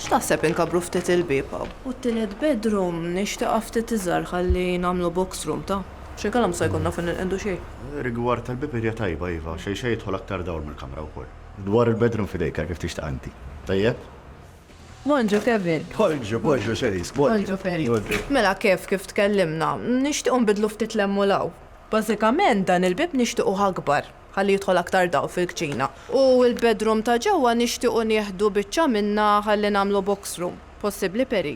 X'taħseb inkabbru ftit il-bieb hawn? U t-tielet bedroom nixtieqha ftit iżgħar ħalli nagħmlu box room, ta? Xi kalam sa jkollna fejn inqegħdu xejn. Rigward tal-bieb idea tajba iva, xejn xejn jidħol aktar dawl mill-kamra wkoll. Dwar il-bedroom f'idejk għal kif tixtieqha inti. Tajjeb? Bonġu Kevin. Bonġu, bonġu Cherise, bonġu. Bonġu Ferry. Mela Kev, kif tkellimna, nixtiequ nbiddlu ftit l-hemm u l-hawn. Bażikament dan il-bieb nixtiequh akbar ħalli jidħol aktar dawl fil-kċina. U l-bedroom ta' ġewwa nixtiequ nieħdu biċċa minnha ħalli nagħmlu box room. Possibbli Perry?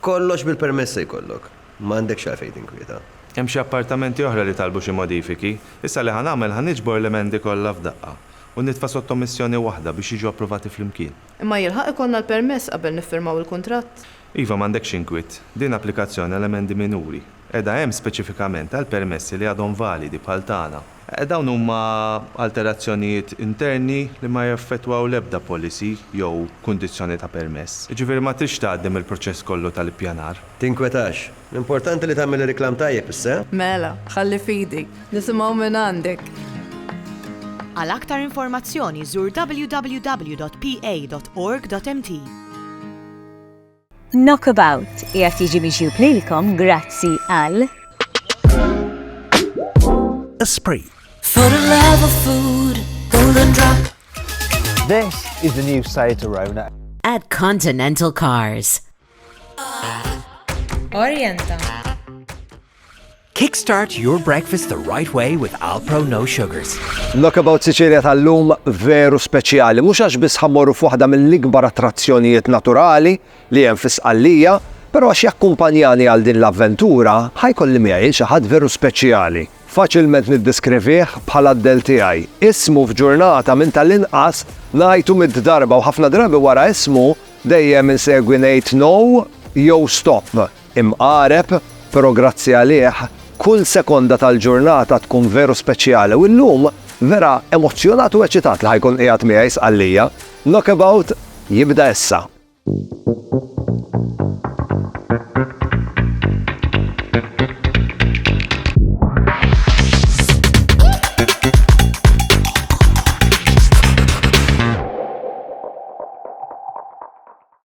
Kollox bil-permess se jkollok. M'għandekx għalfejn tinkwieta. Hemm xi appartamenti oħra li talbu xi modifiki. Issa li ħa nagħmel ħa niġbor l-emendi kollha f'daqqa u nitfa' sottomissjoni waħda biex jiġu approvati flimkien. Imma jilħaq ikollna l-permess qabel niffirmaw il-kuntratt? Iva, m'għandekx inkwiet. Din applikazzjoni għal emendi minuri. Qiegħda hemm speċifikament għal permessi li għadhom validi bħal tagħna. Dawn huma alterazzjonijiet interni li ma jaffettwaw l-ebda policy jew kundizzjoni ta' permess. Jiġifieri ma tridx tgħaddi mill-proċess kollu tal-ippjanar. Tinkwetax. L-importanti li tagħmel ir-riklam tajjeb issa. Mela, ħalli f'idi, nisimgħu mingħandek! Għal aktar informazzjoni żur www.pa.org.mt. Knockabout qiegħed jiġi miġjub lilkom grazzi għal. Esprit. For the love of food, golden drop. This is the new Seat Arona. At Continental Cars. Orienta. Kickstart your breakfast the right way with Alpro No Sugars. Knockabout Sicilia tal-lum veru speċjali, mhux għax biss ħa mmorru f'waħda mill-ikbar attrazzjonijiet naturali li hemm fi Sqallija, però għax jakkumpanjani għal din l-avventura ħa jkolli miegħi lil xi ħadd veru speċjali. Faċilment niddeskrivih bħala d-dell tiegħi. Ismu f'ġurnata minn tal-inqas ngħidu mitt darba u ħafna drabi wara ismu dejjem insegwi ngħid No jew Stop. Imqareb, però grazzi għalih, kull sekonda tal-ġurnata tkun veru speċjali u llum vera emozzjonat u eċitat li ħa jkun qiegħed miegħi Sqallija. Knockabout jibda issa.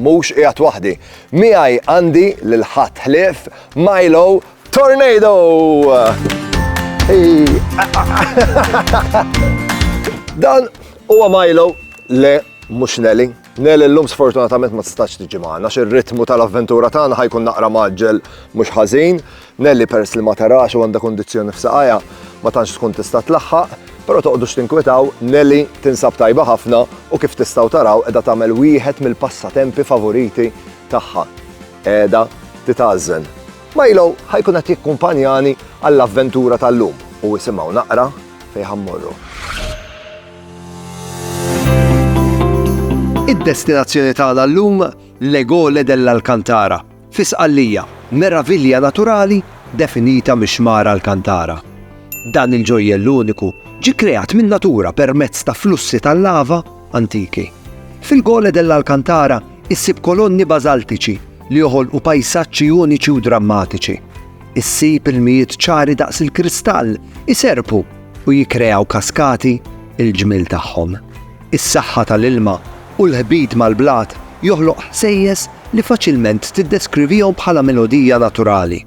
Mhux qiegħed waħdi. Miegħi għandi lil ħadd ħlief Milo Tornado! Dan huwa Milo le mhux Nelly. Nelly llum sfortunatament ma tistax tiġi magħna xi ritmu tal-avventura tagħna ħajkun naqra maġġel mhux ħażin. Nelly peress li ma tarax u għandha kundizzjoni f'saqajha ma tantx tkun tista' tlaħħaq, però toqgħdux tinkwetaw, Nelly tinsab tajba ħafna u kif tistgħu taraw qiegħda tagħmel wieħed mill-passatempi favoriti tagħha. Qiegħda titgħażżen. Milo ħa jkun qed jikkumpanjani għall-avventura tal-lum u isimgħu naqra fejn ħa mmorru. Id-destinazzjoni tagħna llum, L'Egole dell'Alcantara, Fi Sqallija, meravilja naturali definita mix-xmara Alcantara. Dan il-ġojjell uniku ġie kkreat min-natura permezz ta' flussi tal-lava antiki. Fil-Gole dell'Alcantara issib kolonni bażaltiċi li joħolqu pajsaġġi uniċi u drammatiċi. Issib ilmijiet ċari daqs il-kristall iserrpu u jikkreaw kaskati l-ġmiel tagħhom. Is-saħħa tal-ilma u l-ħbit mal-blat joħloq ħsejjes li faċilment tiddeskrivihom bħala melodija naturali.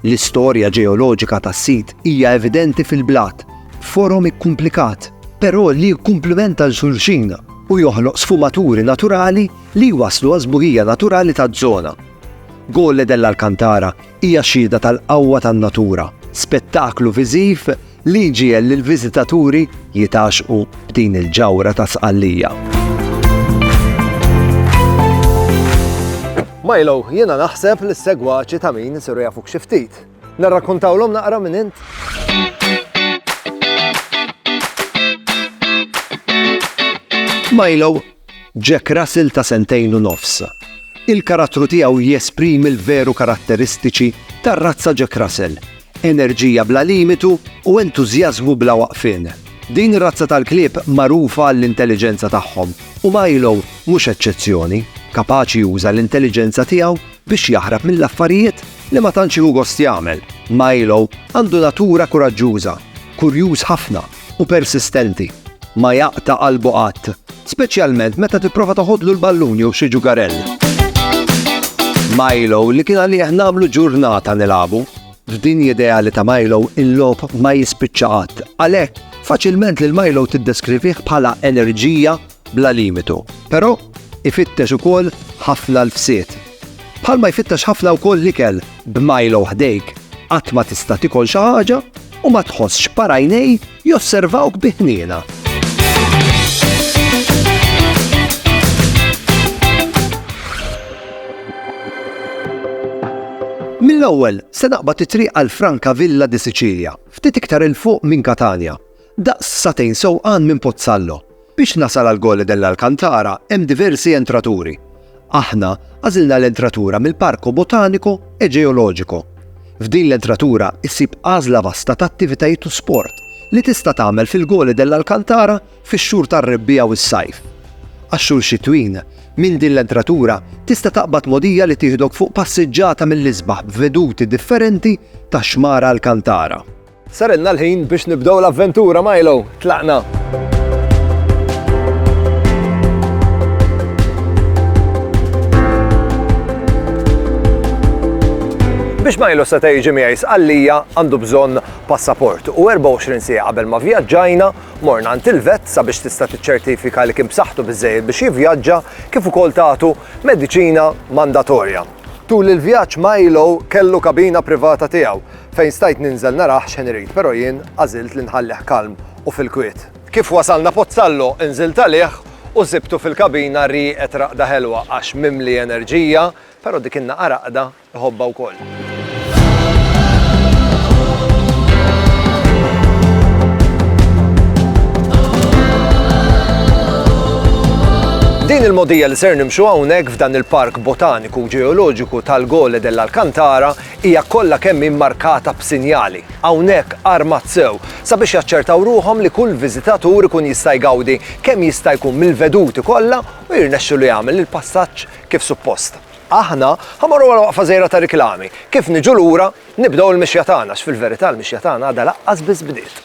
L-istorja ġeoloġika tas-sit hija evidenti fil-blat b'forom ikkumplikat, però li jikkumplimenta 'l xulxin u joħloq sfumaturi naturali li jwasslu għas-sbuħija naturali taż-żona. Gole dell'Alcantara Hija xhieda tal-qawwa tan-natura, spettaklu viżiv li jġiegħel lill-viżitaturi jitgħaxxqu b'din il-ġawhra ta' Sqallija. Milo, jiena naħseb li s-segwaċi ta' min isiru jafuk xi ftit. Narrakkontawlhom naqra minn int? Milo, Jack Russell ta' sentejn u nofs. Il-karattru tiegħu jesprimi l-veru karatteristiċi tar-razza Jack Russell, enerġija bla limitu u entużjażmu bla waqfien. Din ir-razza tal-klieb magħrufa għall-intelliġenza tagħhom u Milo mhux eċċezzjoni, kapaċi juża l-intelliġenza tiegħu biex jaħrab mill-affarijiet li ma tantx jieħu gost jagħmel. Milo għandu natura kuraġġuża, kurjuż ħafna, u persistenti. Ma jaqta' qalbu qatt, speċjalment meta tipprova toħodlu l-ballun jew xi ġugarell. Milo li kien għalih nagħmlu ġurnata nilagħbu. F'din ideali ta' Milo il-lob ma jispiċċa qatt. Għalhekk, faċilment lil Milo tiddeskrivih bħala enerġija bla limitu, però ifittex ukoll ħafna lfsiet. Bħalma jfittex ħafna wkoll l-ikel, b'Milo ħdejk qatt ma tista' tikol xi ħaġa u ma tħossx parajnej josservawk bi ħniena. Mill-ewwel se naqbad it-triq għal Franca Villa di Sicilia, ftit iktar il fuq minn Katanja. Daqs sagħtejn sewqan minn Pozzallo, biex nasal għal Gole dell'Alcantara hemm diversi entraturi. Aħna għażilna l-entratura mill-Parco Botanico e Geologico. F'din l-entratura issib għażla vasta ta' attivitajiet u sport li tista' tagħmel fil-Gole dell'Alcantara fix-xhur tar-rebbiegħa u s-sajf. Għax-xhur xitwin, minn din l-entratura tista' taqbad mogħdija li tieħdok fuq passiġġata mill-isbaħ b'veduti differenti tax-xmara Alcantara. Sarilna l-ħin biex nibdew l-avventura, Milo! Tlaqna! Biex ma jilus seta' jiġi miegħi sqallija għandu bżonn passaport u 24 siegħa qabel ma vjaġġajna morna għand il-vet sabiex tista' tiċċertifika li kien b'saħħtu biżejjed biex jivvjaġġa kif ukoll tagħtu mediċina mandatorja. Tul il-vjaġġ Milo kellu kabina privata tiegħu Fejn stajt ninżel narah x'ħin irid però jien għażilt li nħallih kalm u fil-kwiet. Kif wasalna Pozzallo nżilt għalih u sibtu fil-kabina rieqed raqda ħelwa għax mimli enerġija però dik in-naqa raqda iħobbha wkoll. Din il-mogħdija li ser nimxu hawnhekk f'dan il-Park Botaniku Ġeoloġiku tal-Gole dell'Alcantara Hija kollha kemm hi mmarkata b'sinjali. Hawnhekk armat sew sabiex jaċċertaw ruħhom li kull viżitatur ikun jista' jgawdi kemm jista' jkun mill-veduti kollha u jirnexxilu jagħmel il-passaġġ kif suppost. Aħna ħa mmorru għal waqfa żgħira ta' riklami. Kif niġu lura, nibdew il-mixja tagħna għax fil-verità l-mixja tagħna għadha laqqas biss bdiet.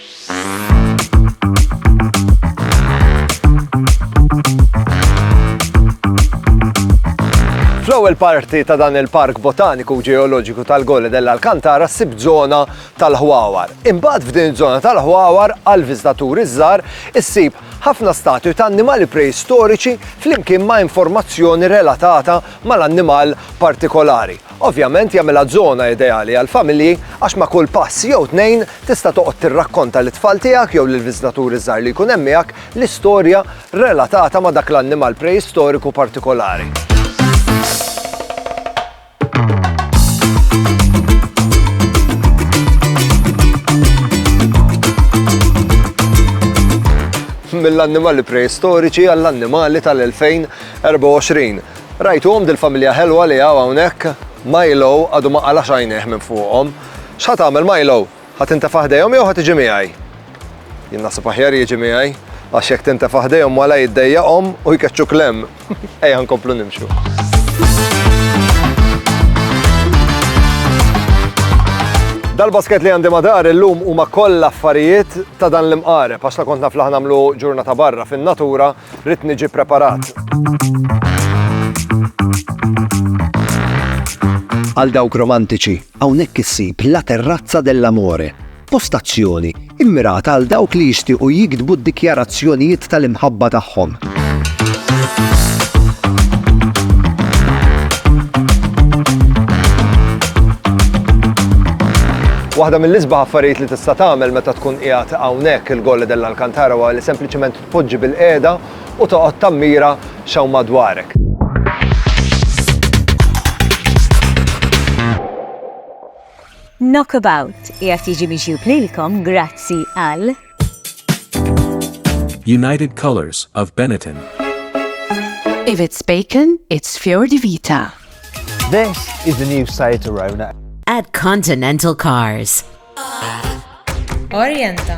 Fl-ewwel parti ta' dan il-Park Botaniku Ġeoloġiku tal-Gole dell-Alcantara ssib żona tal-ħwawar. Imbagħad f'din iż-żona tal-ħwawar għal viżitaturi żgħar issib ħafna statwi ta' annimali preistoriċi flimkien ma' informazzjoni relatata mal-annimal partikolari. Ovvjament jagħmilha żona ideali għall-familji għax ma' kull pass jew tnejn tista' toqgħod tirrakkonta lit-tfal tiegħek jew lill-viżtaturi żgħar li jkun hemm miegħek l-istorja relatata ma' dak l-annimal preistoriku partikolari. mill-annimali preistoriċi għall-annimali tal-2024. Rajtuhom dil-familja ħelwa li hawn hawnhekk? Milo għadu ma qalax għajnejh minn fuqhom. X'ħa tagħmel Milo? Ħa tintefa' ħdejhom jew ħa tiġi miegħi? Jien naħseb aħjar jiġi miegħi, għax jekk tintefa' ħdejhom wala jiddejjaqhom u jkeċċuk 'l hemm. Ejja nkomplu nimxu. Dal-basket li għandi madar illum huma kollha affarijiet ta' dan l-imqareb għax la kont naf li ħanamlu ġurnata barra fin-natura Rrid niġi preparat. Għal dawk romantiċi, hawnhekk issib La Terrazza dell'Amore, postazzjoni immirata għal dawk li jixtiequ jiktbu d-dikjarazzjonijiet tal-imħabba tagħhom. Waħda mill-isbaħ affarijiet li tista' tagħmel meta tkun qiegħed hawnhekk il-Golle dell'Alcantara huwa li sempliċement Tpoġġi bilqiegħda u toqgħod tammira x'hawn madwarek. Knockabout qiegħed jiġi miġjub lilkom grazzi għal United Colors of Benetton. If it's bacon, it's Fior di Vita. This is the new Seat Arona. At Continental Cars. Orienta.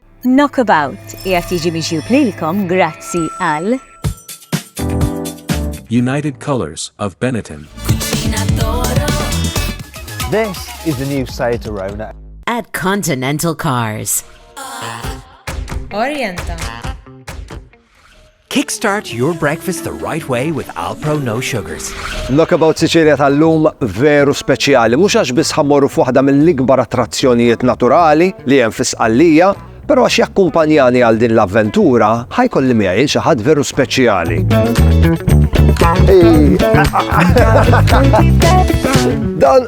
Knockabout qiegħed jiġi miġjub lilkom grazzi għal. United Colours of Benetton. This is the new Seat Arona. At Continental Cars. Orienta. Kickstart your breakfast the right way with Alpro No Sugars. Knockabout Sicilia tal-lum veru speċjali, mhux għax biss ħammorru f'waħda mill-ikbar attrazzjonijiet naturali li hemm fi Sqallija, però għax jakkumpanjani għal din l-avventura ħajkolli miegħi xi ħadd veru speċjali. Dan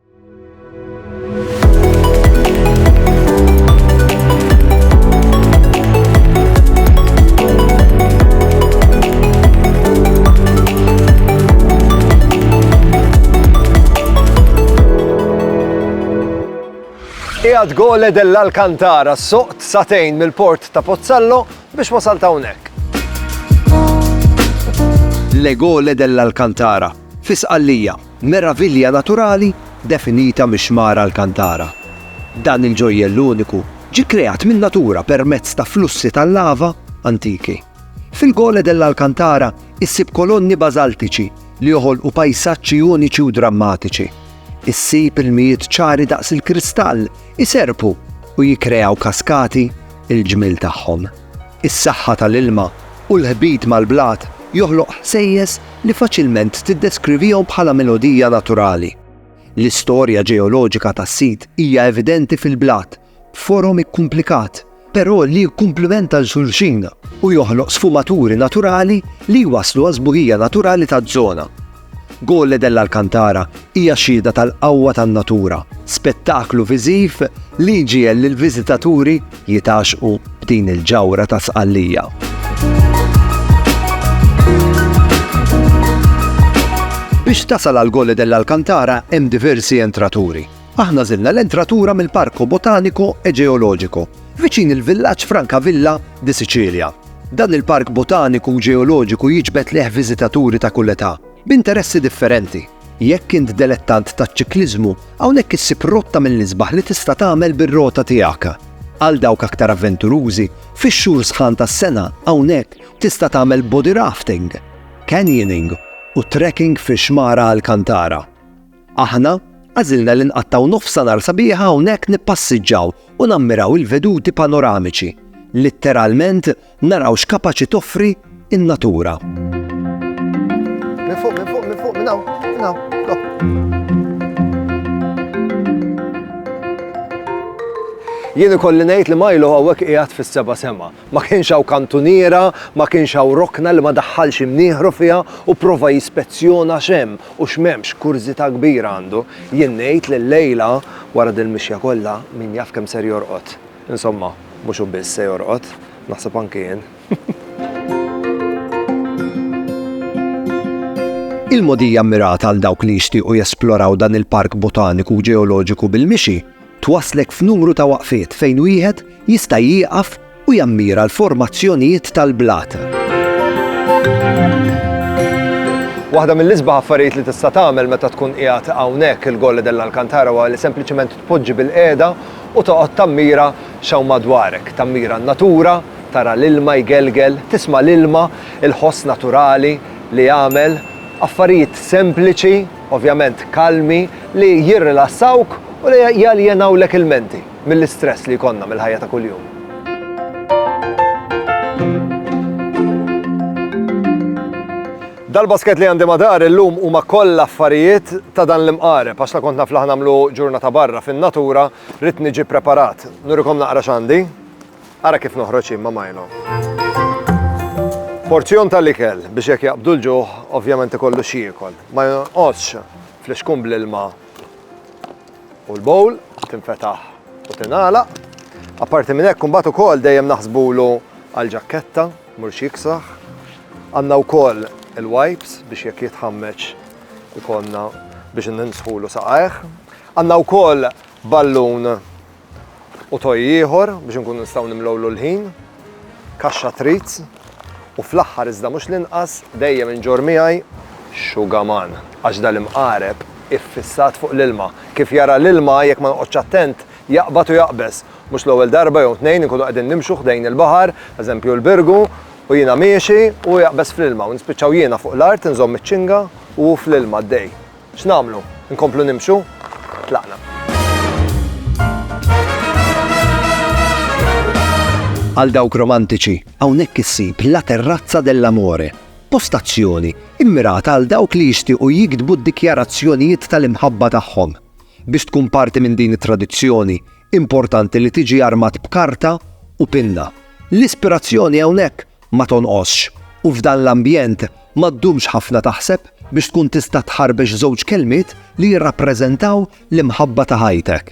Qiegħed gole dell-Alcantara soqt satejn mill-port ta' Pozzallo biex wasal ta' hawnhekk. Le gole dell-Alcantara, fisqallija, Meravilja naturali definita mix-xmara Alcantara. Dan il-ġojjell uniku ġie kkreat min-natura permezz ta' flussi tal-lava antiki. Fil-Gole dell'Alcantara issib kolonni bażaltiċi li joħolqu pajsaġġi uniċi u drammatiċi. Issib ilmijiet ċari daqs il-kristall iserrpu u jikkreaw kaskati, il-ġmiel tagħhom. Is-saħħa tal-ilma u l-ħbit mal-blat joħloq ħsejjes li faċilment tiddeskrivihom bħala melodija naturali. L-istorja ġeoloġika tas-sit hija evidenti fil-blat b'forom ikkumplikat, però li jikkumplimenta 'l xulxin u joħloq sfumaturi naturali li jwasslu għas-sbuħija naturali taż-żona. Gole dell'Alcantara hija xhieda tal-qawwa tan-natura, spettaklu viżiv li jġiegħel lill-viżitaturi jitgħaxxqu b'din il-ġawhra ta' Sqallija. Biex tasal għal Gole dell'Alcantara hemm diversi entraturi, Aħna żilna l-entratura mill-Parco Botanico e Geologico, viċin il-villaġġ Francavilla di Sicilia. Dan il-park botaniku u ġeoloġiku jiġbed lejh viżitaturi ta' kull età, b'interessi differenti. Jekk int delettant taċ-ċikliżmu, hawnhekk issib rotta mill-isbaħ li tista' tagħmel bir-rota tiegħek. Għal dawk aktar avventurużi, fix-xhur sħan tas-sena, hawnhekk tista' tagħmel body rafting, canyoning u trekking fix-xmara Alcantara. Aħna għażilna li nqattgħu nofsha nhar sabiħa hawnhekk nippassiġġaw u nammiraw il-veduti panoramiċi. Litteralment naraw x'kapaċi toffri n-natura. Minn fuq, minn fuq, minn fuq, minn hawn, minn hawn. Jien ikolli ngħid li Milo hawnhekk qiegħed fis-seba' sema. Ma kienx hawn kantuniera, ma kienx hawn rokna li ma daħħalx imnieħru fiha u pprova jispezzjona x'hemm u x'm'hemmx, kurżità kbira għandu. Jien ngħid li llejla, wara dil-mixja kollha, min jaf kemm ser jorqod. Insomma, mhux hu biss se jorqod, naħseb anki jien. Il-mogħdija mmirata għal dawk li jixtiequ jesploraw dan il-Park Botaniku u Ġeoloġiku bil-mixi, Twasslek f'numru ta' waqfiet fejn wieħed jista' jieqaf u jammira l-formazzjonijiet tal-blat. Waħda mill-isbaħ affarijiet li tista' tagħmel meta tkun qiegħed hawnhekk il-Gole dell'Alcantara huwa li sempliċement tpoġġi bilqiegħda u toqgħod tammira x'hawn madwarek. Tammira n-natura, tara l-ilma jgelgel, tisma' l-ilma, il-ħoss naturali li jagħmel. Affarijiet sempliċi. ovvjament kalmi, li jirrilassawk u li jaljenawlek il-menti mill-istress li jkollna mill-ħajja ta' kuljum. Dal-basket li għandi madar illum huma koll affarijiet ta' dan l-imqareb, għax la kont naf laħ nagħmlu ġurnata barra fin-natura, rid niġi preparat. Nurikom naqra x'għandi. Ara kif noħroġ jien ma' Milo. Porzjon tal-ikel biex jekk jaqbdu l-ġuħ ovvjament ikollu x'jiekol. Ma jonqosx flixkun bl-ilma u l-bowl tinfetaħ u tingħalaq. Apparti minn hekk imbagħad ukoll dejjem naħsbulu għall-ġakketta mhux jiksraħ. Għandna wkoll il-wipes biex jekk jitħammeġ ikollna biex ninsħulu saqajh. Għandna wkoll ballun U toy ieħor biex inkunu nistgħu nimlgħulu l-ħin, kaxxa treats, u fl-aħħar iżda mhux l-inqas, dejjem inġorr miegħi xugaman għax dal-imqareb iffissat fuq l-ilma. Kif jara l-ilma, jekk ma noqgħodx attent, jaqbad u jaqbeż. Mhux l-ewwel darba jew tnejn inkunu qegħdin nimxu ħdejn il-baħar, eżempju l-Birgu, u jiena miexi u hu jaqbeż fl-ilma u nispiċċaw jiena fuq l-art inżomm iċ-ċinga u hu fl-ilma għaddej. X'nagħmlu? Inkomplu nimxu? Tlaqna. Għal dawk romantiċi, hawnhekk issib La Terrazza dell'Amore, postazzjoni mmirata għal dawk li jixtiequ jiktbu d-dikjarazzjonijiet tal-imħabba tagħhom. Biex tkun parti minn din it-tradizzjoni, importanti li tiġi armat b'karta u pinna. L-ispirazzjoni hawnhekk ma tonqosx u f'dan l-ambjent ma ddumx ħafna taħseb biex tkun tista' tħarbex żewġ kelmiet li jirrappreżentaw l-imħabba ta' ħajtek.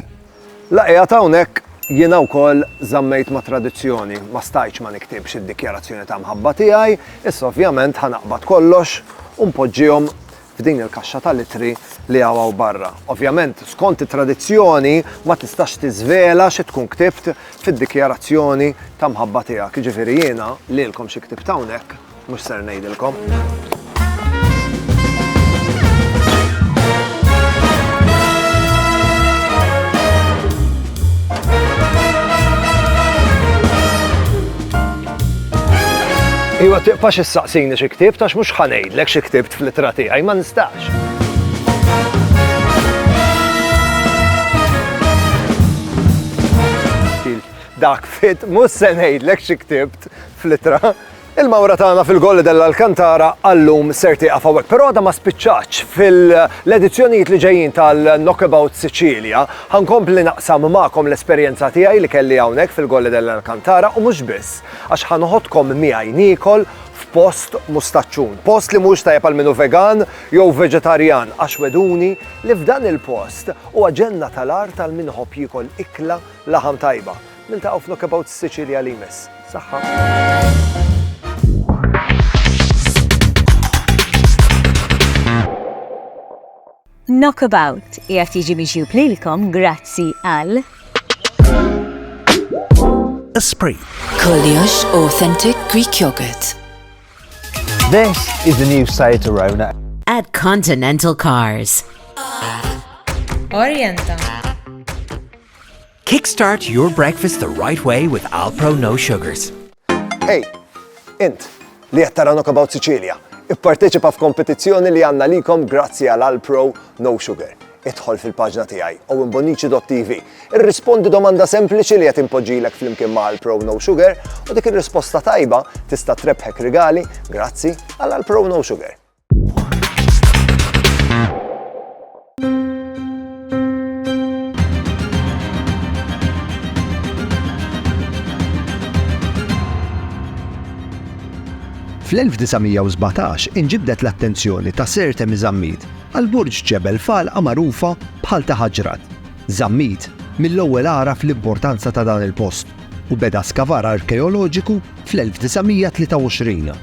La qiegħed hawnhekk, jiena wkoll żammejt ma' tradizzjoni, ma stajtx ma niktibx id-dikjarazzjoni ta' mħabba tiegħi, issa ovvjament ħa naqbad kollox u npoġġihom f'din il-kaxxa tal-ittri li hawn hawn barra. Ovvjament, skont it-tradizzjoni, ma tistax tiżvela xi tkun ktibt fid-dikjarazzjoni ta' mħabba tiegħek. Jiġifieri jiena lilkom xi ktibt hawnhekk mhux ser ngħidilkom. Iwa tiqfax issaqsini xi ktibt għax mhux ħanejdlek xi ktibt fl-ittra tiegħi ma nistax. Dak fit mhux se ngħidlek xi ktibt fl-ittra. Il-mawra tagħna fil-Golli della l-Kantara għallum ser tieqaf hawnhekk, però għadha ma spiċċaċ fil-edizzjonijiet li ġejjin tal-Knockabout Sicilia Ħa nkompli naqsam magħkom l-esperjenza tiegħi li kelli hawnhekk fil-Colle dell'Alcantara u mhux biss, għax ħa noħodkom miegħi niekol f'post mustaċċun. Post li mhuwiex tajjeb għal min hu vegan jew veġetarjan għax wegħduni li f'dan il-post huwa ġenna tal-art għal min iħobb jiekol ikla laħam tajba. Niltaqgħu f'Knockabouts Sicilia li jmiss. Saħħa! Knockabout qiegħed jiġi miġjub lilkom grazzi għal. Esprit. Kollox authentic Greek yogurt. This is the new Seat Arona. At Continental Cars. Orienta. Kickstart your breakfast the right way with Alpro No Sugars. Hey, int, li qed tara Knockabout Sicilia, ipparteċipa f'kompetizzjoni li għandna likom grazzi għal Alpro No Sugar. Idħol fil-paġna tiegħi owenbonici.tv. Irrispondi domanda sempliċi li qed impoġġilek flimkien ma' Alpro No Sugar u dik ir-risposta tajba tista' trebħek rigali grazzi għal Alpro No Sugar. Fl-1917 inġibdet l-attenzjoni ta' Sir Temi Zammit għal burġ ġebel falqa magħrufa bħal ta' Ħaġrat. Zammit mill-ewwel għaraf l-importanza ta' dan il-post u beda skavar arkeoloġiku fl-1923.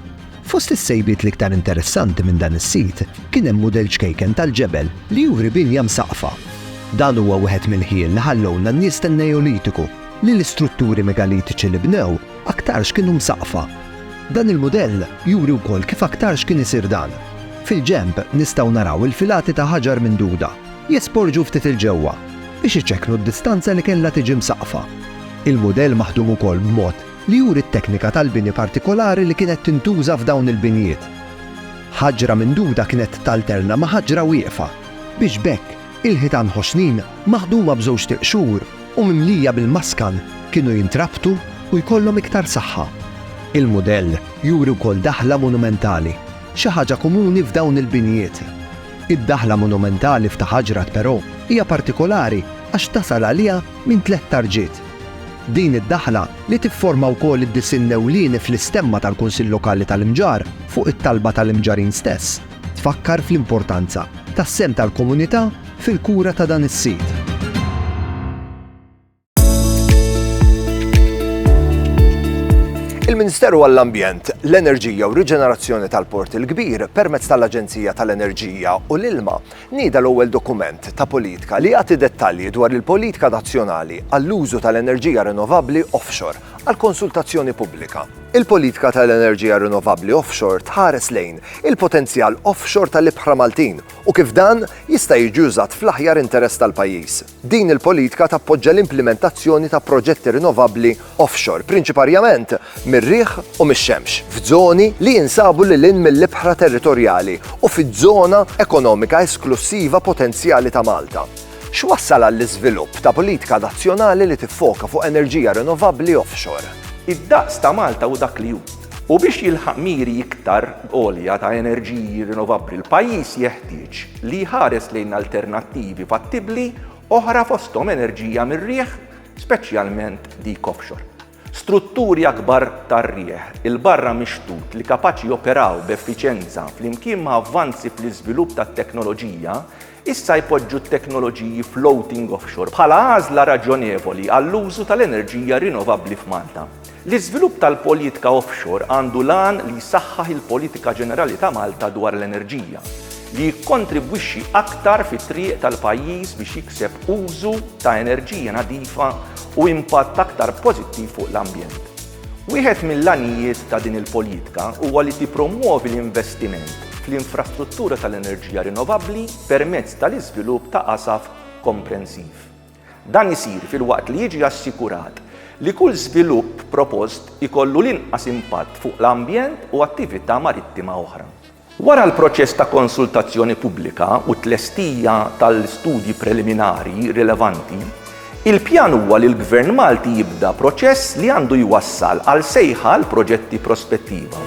Fost is-sejbiet l-iktar interessanti minn dan is-sit kien hemm mudell ċkejken tal-ġebel li juri binja msaqqfa. Dan huwa wieħed mill-ħjiel li ħallewlna n-nies tan-Neolitiku li l-istrutturi megalitiċi li bnew aktarx kienu msaqqfa. Dan il-mudell juri wkoll kif aktarx kien isir dan. Fil-ġenb nistgħu naraw il-filati ta' ħaġar minduda jesporġu ftit 'il ġewwa biex iċekknu d-distanza li kellha tiġi msaqqfa. Il-mudell maħdum ukoll b'mod li juri t-teknika tal-bini partikolari li kienet tintuża f'dawn il-binjiet. Ħaġra minduda kienet talterna ma' ħaġra wieqfa, biex b'hekk il-ħitan ħoxnin maħduma b'żewġ tiqxur u mimlija bil-maskan kienu jintrabtu u jkollhom iktar saħħa. Il-mudell juri wkoll daħla monumentali, xi ħaġa komuni f'dawn il-binjiet. Id-daħla monumentali f'Ta' Ħaġrat però hija partikolari għax tasal għaliha minn tliet tarġiet. Din id-daħla, li tifforma wkoll id-disinn ewlieni fl-istemma tal-Kunsill Lokali tal-Imġarr fuq it-talba tal-Imġarrin stess, tfakkar fl-importanza tas-sehem tal-komunità fil-kura ta' dan is-sit. Il-Ministeru għall-Ambjent, l-Enerġija u r-Riġenerazzjoni tal-Port il-Kbir, permezz tal-Aġenzija tal-Enerġija u l-Ilma, Nieda l-ewwel dokument ta' politika li jagħti dettalji dwar il-politika nazzjonali għall-użu tal-enerġija rinnovabbli offshore għal konsultazzjoni pubblika. Il-politika tal-enerġija rinnovabbli offshore tħares lejn il-potenzjal offshore tal-ibħra Maltin u kif dan jista' jiġi użat fl-aħjar interess tal-pajjiż. Din il-politika tappoġġa l-implimentazzjoni ta' proġetti rinnovabbli offshore, prinċiparjament mir-riħ u mix-xemx, f'żoni li jinsabu lil hinn mill-ibħra territorjali u fiż-żona ekonomika esklussiva potenzjali ta' Malta. X'wassal għall-iżvilupp ta' politika nazzjonali li tiffoka fuq enerġija rinnovabbli offshore? Id-daqs ta' Malta hu dak li hu. U biex jilħaq miri iktar għolja ta' enerġiji rinnovabbli l-pajjiż jeħtieġ li jħares lejn alternattivi fattibbli oħra fosthom enerġija mir-riħ, speċjalment dik offshore. Strutturi akbar tar-riħ 'il barra mix-xtut li kapaċi joperaw b'effiċjenza flimkien ma' avvanzi fl-iżvilupp tat-teknoloġija Issa jpoġġu t-teknoloġiji floating offshore bħala għażla raġjonevoli għall-użu tal-enerġija rinnovabbli f'Malta. L-iżvilupp tal-politika offshore għandu l-għan li jsaħħaħ il-politika ġenerali ta' Malta dwar l-enerġija, li jikkontribwixxi aktar fit-triq tal-pajjiż biex jikseb użu ta' enerġija nadifa u impatt aktar pożittiv fuq l-ambjent. Wieħed mill-għanijiet ta' din il-politika huwa li tippromwovi l-investiment fl-infrastruttura tal-enerġija rinnovabbli permezz tal-iżvilupp ta' qasaf komprensiv. Dan isir filwaqt li jiġi assikurat li kull żvilupp propost ikollu l-inqas impatt fuq l-ambjent u attività marittima oħra. Wara l-proċess ta' konsultazzjoni pubblika u t-tlestija tal-studji preliminari rilevanti, il-pjan huwa li l-Gvern Malti jibda proċess li għandu jwassal għal sejħa għal proġetti prospettiva.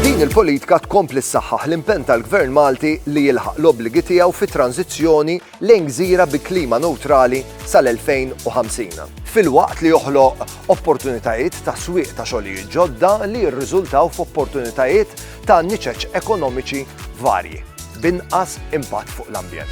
Din il-politika tkompli ssaħħaħ l-impenn tal-Gvern Malti li jilħaq l-obbligi tiegħu fit-tranżizzjoni lejn gżira bi klima newtrali sal-2050, filwaqt li joħloq opportunitajiet ta' swieq ta' xogħlijiet ġodda li jirriżultaw f'opportunitajiet ta' niċeċ ekonomiċi varji, b'inqas impatt fuq l-ambjent.